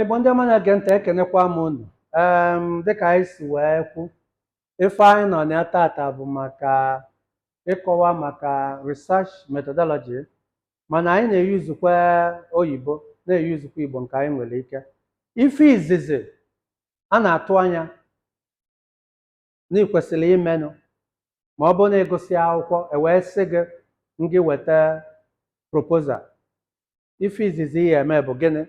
Igbo ndị ọma na-ege ntị ekenekwa m unu em dịka anyị si wee kwu ife anyị nọ na ya tata bụ maka ịkọwa maka research methodology mana anyị na-eyuzukwa oyibo na-eyuzukwa Igbo nke anyị nwere ike ife izizi a na-atụ anya na ị kwesịrị imenụ ma ọ bụrụ na ị gụsịa akwụkwọ e wee sị gị ngị weta proposal ife izizi ị ya-eme bụ gịnị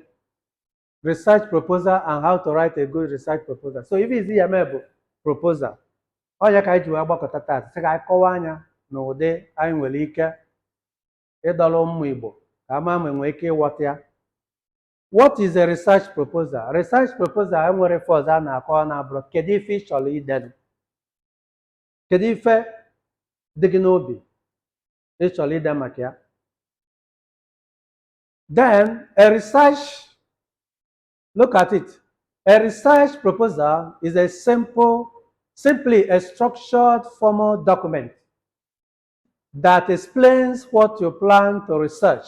research proposal and how to write a good research proposal so ife izizi ị ya-eme bụ proposal ọ ya ka anyị ji wee gbakọta taa sị ka anyị kọwaanụ ya n'ụdị anyị nwere ike ịdọrọ ụmụ Igbo ka ama ma enwee ike ịghọta ya What is a research proposal? Research proposal enwerọ ife ọzọ a na-akọwa na-abụrọ kedu ife ị chọrọ idenu kedu ife dị gị n'obi ị chọrọ ide maka ya then a research look at it a research proposal is a simple simply a structured formal document that explains what you plan to research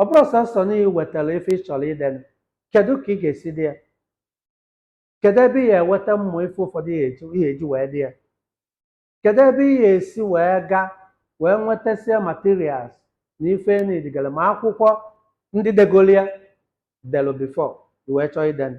ọ bụrọ sọsọ na ị wetara ife ị chọrọ idenu kedu ka ị ga-esi dee ya kedu ebe ị ya-eweta ụmụ ife ụfọdụ ị ya-eji wee dee ya kedu ebe ị ya-esi wee gaa wee nwetasịa materials na ife nidigara ma akwụkwọ ndị degolu ya delu before i wee chọọ idenu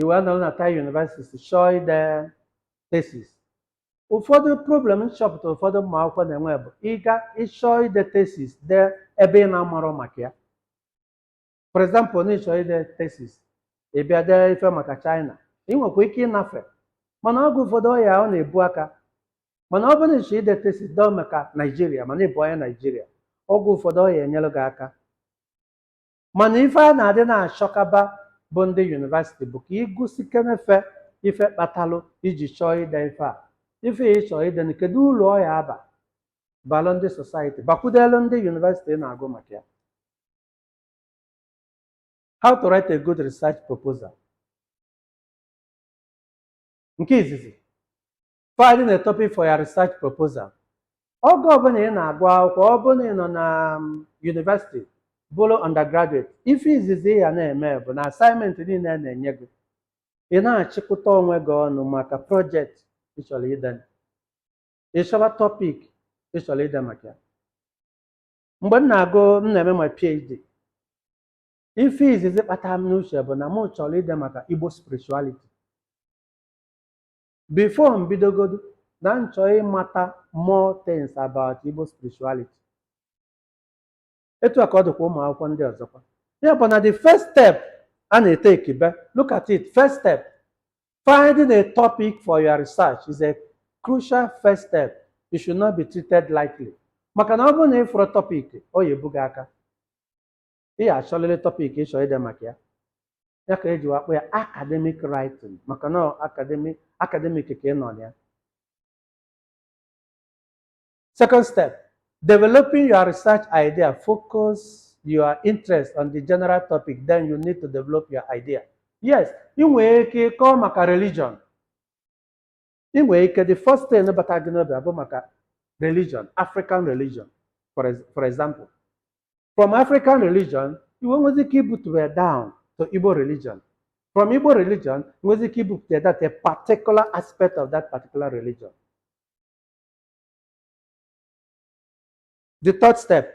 i wee nọrọ na Thai University chọọ ide thesis ụfọdụ problem m chọpụtara ụfọdụ ụmụ akwụkwọ na-enwe bụ ị chọọ ide thesis dee ebe ị na-amarọ maka ya for example na ị chọọ ide thesis ị bịa dee ife maka China ị nwekwa ike ịnafe mana oge ụfọdụ ọ ya ọ na-ebu aka mana ọ bụrụ na ị chọọ ide thesis dee maka Nigeria mana ị bụ onye Nigeria oge ụfọdụ ọ ya-enyere gị aka mana ife a na-adị na-achọkaba bụ ndị university bụ ka i gosikene fa ife kpatalụ i ji chọọ ide ife a ife ị chọọ ide na kedu ulu ọ ya-aba balụ ndị society bakwudelu ndị university ị na-agụ maka ya how to write a good research proposal nke izizi finding a topic for your research proposal oge ọbụla ị na-agụ akwụkwọ ọ bụrụ na ị nọ na university bụrụ undergraduate ife izizi ị ya na-eme bụ na assignment niile a na-enye gị ị na-achịkọta onwe gị ọnụ maka project ị chọrọ ide ị chọba topic ị chọrọ ide maka ya mgbe m na-agụ m na-eme my PhD ife izizi gbatara m n'uche bụ na m chọrọ ide maka Igbo spirituality Before m bidogodu, na m chọọ ịmata more things about Igbo spirituality. Etu a ka ọ dịkwa ụmụ akwụkwọ ndị ọzọkwa. Ya bụ na the first step a na-eteki be, look at it, first step, finding a topic for your research is a crucial first step. It should not be treated lightly. Maka na ọ bụrụ na ị fụrụ topic, ọ ya ebu gị aka. ị ya achọlịlị topic ị chọrọ ide maka ya ya ka eji wee akpọ ya academic writing maka na academic ka ị nọ na ya second step developing your research idea focus your interest on the general topic then you need to develop your idea yes ị nwere ike ịkọ maka religion ị nwere ike the first thing bata gị n'obi abụ maka religion african religion for, ex- for example from african religion i wee nwezi ike ibutu ya down to igbo religion from igbo religion nwezi ike ibupụta that a particular aspect of that particular religion the third step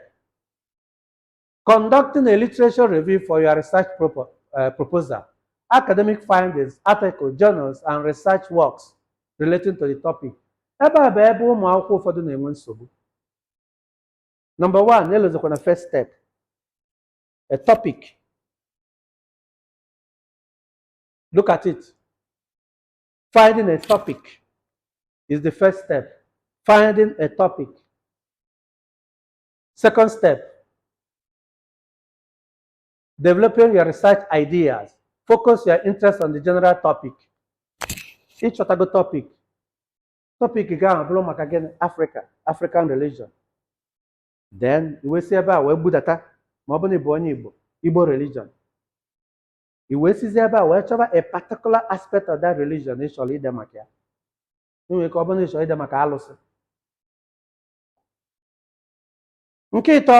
Conducting a literature review for your research propo- uh, proposal, academic findings, article, journals, and research works relating to the topic. Ebe a bụ ebe ụmụ akwụkwọ ụfọdụ na-enwe nsogbu. Number one, elozikwa na first step, a topic. Look at it. Finding a topic is the first step. Finding a topic. Second step, developing your research ideas. Focus your interest on the general topic. Ị chọtago topic. Topic gị ahụ bụrụ maka gịnị? Africa, African religion. Then i wee si ebe a wee budata ma ọ bụrụ na ị bụ onye Igbo, Igbo religion. I wee sizi ebe a wee chọba a particular aspect of that religion ị chọrọ ide maka ya. I nwere ike ọ bụrụ na ị chọrọ ide maka alụsị. nke ịtọ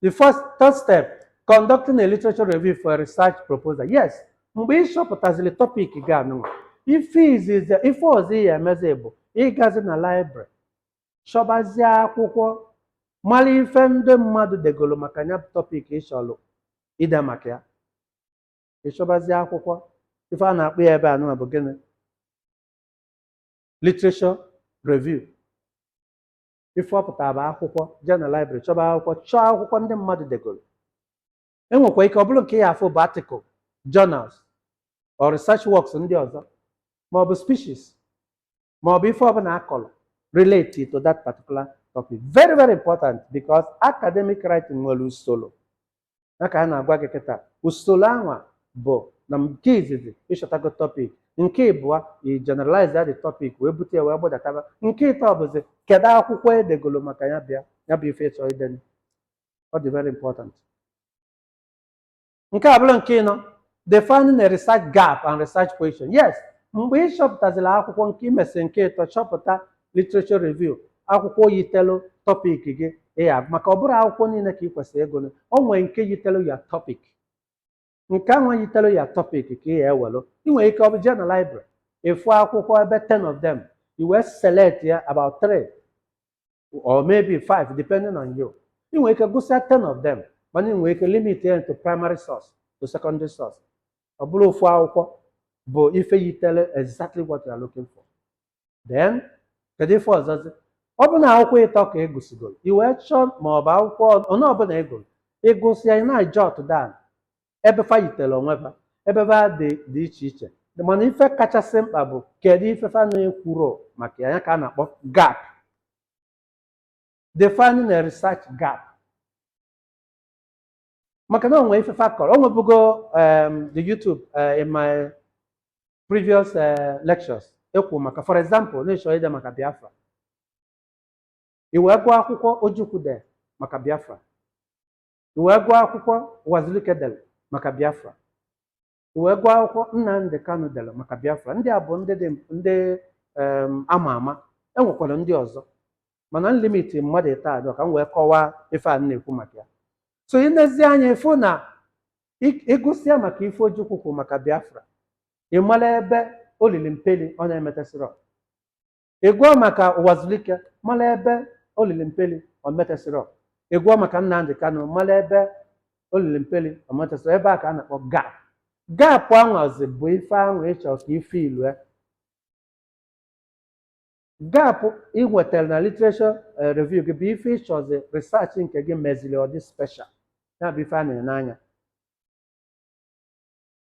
the first third step conducting a literature review for a research proposal yes mgbe ị chọpụtaziri topic gị anụnwa ife ọzọ ị ya emezi bụ ịgazi na library chọbazie akwụkwọ mara ife ndị mmadụ degoro maka ya bụ topic ị chọrọ ide maka ya ị chọbazie akwụkwọ ife a na-akpọ ya ebe anụnwa bụ gịnị literature review ife ọ pụtara bụ akwụkwọ jee na library chọba akwụkwọ chọọ akwụkwọ ndị mmadụ degoro enwekwa ike ọ bụrụ nke ị ya afụ bụ article journals or research works ndị ọzọ ma ọ bụ speeches ma ọ bụ ife ọbụla akọrọ relate to that particular topic very very important because academic writing nwere usoro ya ka a na-agwa gị kịta usoro anwa bụ na nke izizi ị chọtago topic nke ịbụa i generalize ya the topic wee butu ya wee gbadataba nke ịtọ bụzi kedu akwụkwọ edegolo maka ya bụ ya bụ ife ị chọ ide ọ dị very important nke a abụrụ nke ịnọ Defining a research gap and research question. Yes, mgbe ị chọpụtazila akwụkwọ nke i mesị nke ịtọ chọpụta literature review akwụkwọ yitelu topic gị ịya maka ọ bụrọ akwụkwọ niile ka ị kwesịrị ịgụ o nwere nke yitelu your topic nke ahụ yitelu your topic ka ị ya-ewelu ị nwere ike ọ bụ jee na library ị fụ akwụkwọ ebe 10 of them i wee select ya about 3 or maybe five depending on you ị nwere ike gụsịa 10 of them mana ị nwere ike limit ya to primary source to secondary source ọ bụrụ ofu akwụkwọ bụ ife yitelu exactly what you are looking for then kedu ife ọzọzi ọ bụ na akwụkwọ ịtọ ka ị gụsịgoro i wee chọọ ma ọ bụ akwụkwọ onye ọbụla ị gụrụ ị gụsịa ị na-ajot down ebe fa yitere onwe fa ebe fa dị dị iche iche mana ife kachasị mkpa bụ kedu ife fa na-ekwurọ maka ya ya ka a na-akpọ gap defining a research gap maka na o nwe ife fa kọrọ o nwebugo um, the YouTube uh, in my previous uh, lectures ekwu maka for example na ị chọ ide maka Biafra i wee gụọ akwụkwọ Ojukwu de maka Biafra I wee gụọ akwụkwọ Ụwazulike dere maka Biafra. I wee gụọ akwụkwọ Nnamdi Kanu dere maka Biafra. Ndị a bụ ndị dị ndị um, ama ama. E nwekwara ndị ọzọ. Mana m limit mmadụ ịtọ a ka m wee kọwaa ife a m na-ekwu maka ya. So ị nezi anya ị fụ na ị- ị gụsịa maka ife Ojukwu kwuru maka Biafra, ị mara ebe o lili mpeli ọ na-emetesịrọ. ị gụọ maka Ụwazulike mara ebe o lili mpeli o metesịrọ ị gụọ maka Nnamdi Kanu mara ebe o lili mpeli o metesịrọ ebe a ka a na-akpọ gap gap anwazi bụ ife ahụ ị chọ ka i fill-ue gap ị nwetara na literature eh, review gị bụ ife ị chọzi research nke gị meziri ọ dị special ya bụ ife a na-ene anya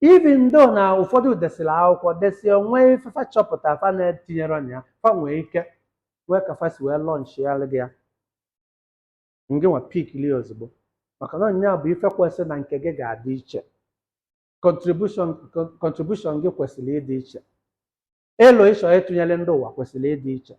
Even though na ụfọdụ desịrị akwụkwọ desie nwee ife fa chọpụta fa na-etinyerọ na ya fa nwee ike nwee ka fa si wee launch-alụ gị ya ngị nwa pick-ili ozugbo maka na nya bụ ife kwesịrị na nke gị ga-adị iche contribution con- contribution gị kwesịrị ịdị iche elo ị chọ ịtụnyere ndị ụwa kwesịrị ịdị iche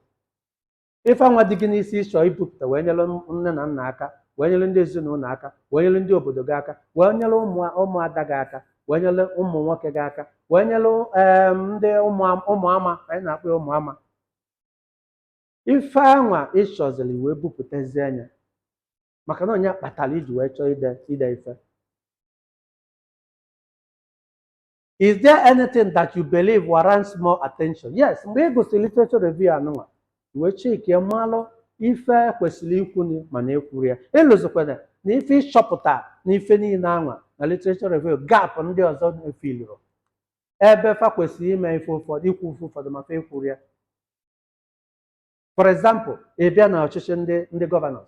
ife anwa dị gị n'isi ị chọ ibupụta wee nyere nne na nna aka wee nyere ndị ezinụlọ aka wee nyere ndị obodo gị aka wee nyere ụmụ ụmụada gị aka wee nyere ụmụ nwoke gị aka wee nyere em, ndị ụmụ ụmụ ama anyị na-akpọ ya ụmụ ama ife anwa ị chọziri wee bupụtazie anya maka na nya kpatara i ji wee chọọ ide ide ife is there anything that you believe warrants more attention yes mgbe ị gụsịrị literature review anụnwa wee checkie malụ ife kwesịrị ikwuni mana ekwurọ ya ịlụzikwana na ife ị chọpụta na ife niile anwa na literature review gap ndị ọzọ efillurọ ebe fa kwesịrị ime ife ụfọdụ ikwu ife ụfọdụ ma fa ekwurọ ya for example ị bịa na ọchịchị ndị ndị governors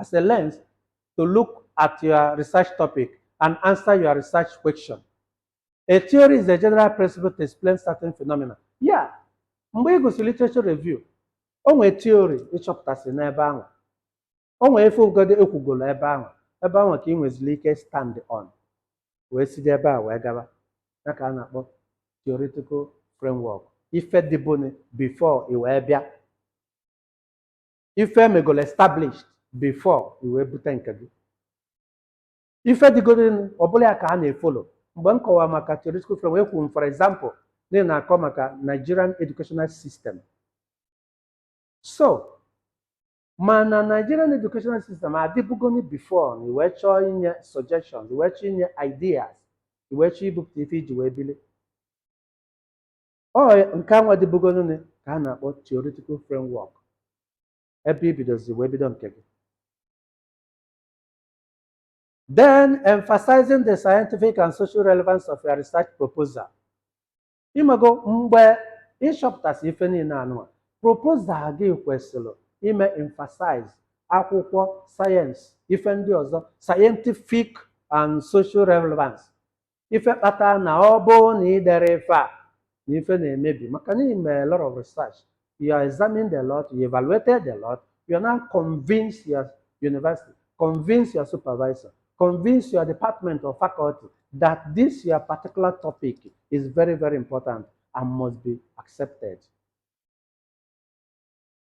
as a lens to look at your research topic and answer your research question. A theory is a general principle to explain certain phenomena. Yeah, mgbe ị gụsịrị literature review, o nwee theory ị chọpụtasị n'ebe ahụ. O nwee ife ụfọdụ e kwugolo ebe ahụ. Ebe ahụ ka i nweziri ike stand on. Wee site ebe a wee gaba. Ya ka a na-akpọ theoretical framework. Ife dịbụnị before i wee bịa. ife e megolo established before i wee bute nke gị ife dịgodịnụ ọbụla ya ka a na-efollow mgbe m kọwara maka theoretical frame ekwu m for example na ị na-akọ maka Nigerian educational system so mana Nigerian educational system adịbugoni before na i wee chọọ inye suggestions i wee chọọ inye ideas i wee chọọ ibupụta ife i ji wee bili ọ nke anwa dịbụgonụnị ka a na-akpọ theoretical framework ebe i bidozi wee bido nke gị then emphasizing the scientific and social relevance of your research proposal ị mago mgbe ị chọpụtasị ife niile anụnwa proposal gị kwesịrị ime emphasize akwụkwọ sayensị ife ndị ọzọ scientific and social relevance ife kpata na ọ bụrụ na ị dere ife a na ife na-emebi maka na ime a lot of research you are examined a lot you evaluated a lot you are now convinced your university convince your supervisor convince your department or faculty that this your particular topic is very very important and must be accepted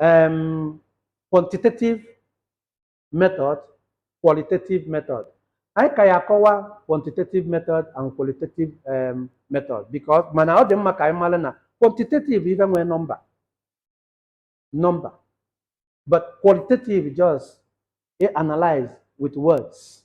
um, quantitative method qualitative method anyị ka ya-akọwa quantitative method and qualitative um, method because mana ọ dị mma ka anyị mara na quantitative ife nwee number number but qualitative just e analyze with words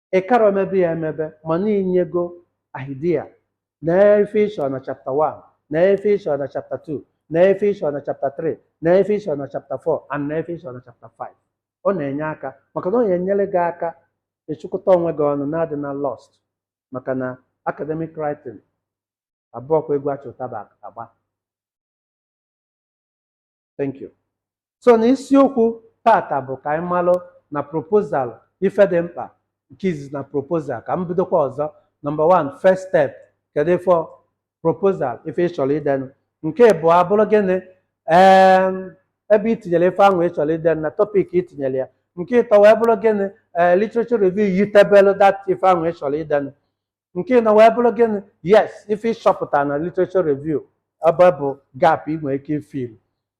ị karọ emebe ya emebe mana i nyego idea na ife ị chọ na chapter 1 na ife ị chọ na chapter 2 na ife ị chọ na chapter 3 na ife ị chọ na chapter 4 and na ife ị chọ na chapter 5 ọ na-enye aka maka na ọ na-enyere gị aka ịchụkọta onwe gị ọnụ na-adị na lost maka na academic writing abụọkwa egwu a chị ụtaba agba thank you so na isiokwu tata bụ ka anyị malụ na proposal ife dị mkpa nke izizi na proposal ka m bidokwa ọzọ number 1 first step kedu ife proposal ife ị chọrọ idenụ nke ịbụa abụrụ gịnị ee ebe i tinyere ife ahụ ị chọrọ ide na topic i tinyere ya nke ịtọ wee bụrụ gịnị ee literature review yitebelu that ife ahụ ị chọrọ idenụ nke ịnọ wee bụrụ gịnị yes ife ịchọpụta na literature review ebe bụ gap ị nwere ike ifil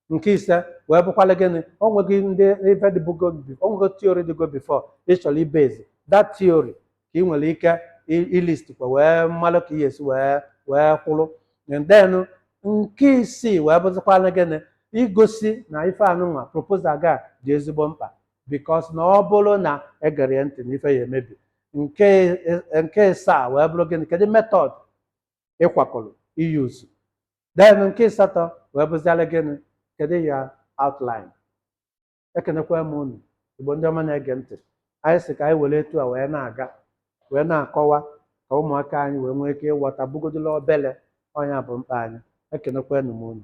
nke ise wee bụkwala gịnị o nweghị ndị ife dịbugo bi- o nwego theory dịgo before ị chọrọ ibase that theory ka ị nwere ike i- ilist kwa wee malụ ka ị ya-esi wee wee kwụrụ and then nke isii wee bụzịkwala gịnị igosi na ife anụnwa proposal ga dị ezigbo mkpa because na ọ bụrụ na egerọ ya ntị na ife ya-emebi nke e- nke ịsaa wee bụrụ gịnị kedu method ị kwakọrọ iuse then nke ịsatọ wee bụziara gịnị kedu your outline ekenekwa m unu igbo ndị ọma na-ege ntị anyị sị ka anyị were etu a wee na-aga wee na-akọwa ka ụmụaka anyị wee nwee ike ịghọta ọ bụgodu obele ọ nya bụ mkpa anyị ekenekwa m unu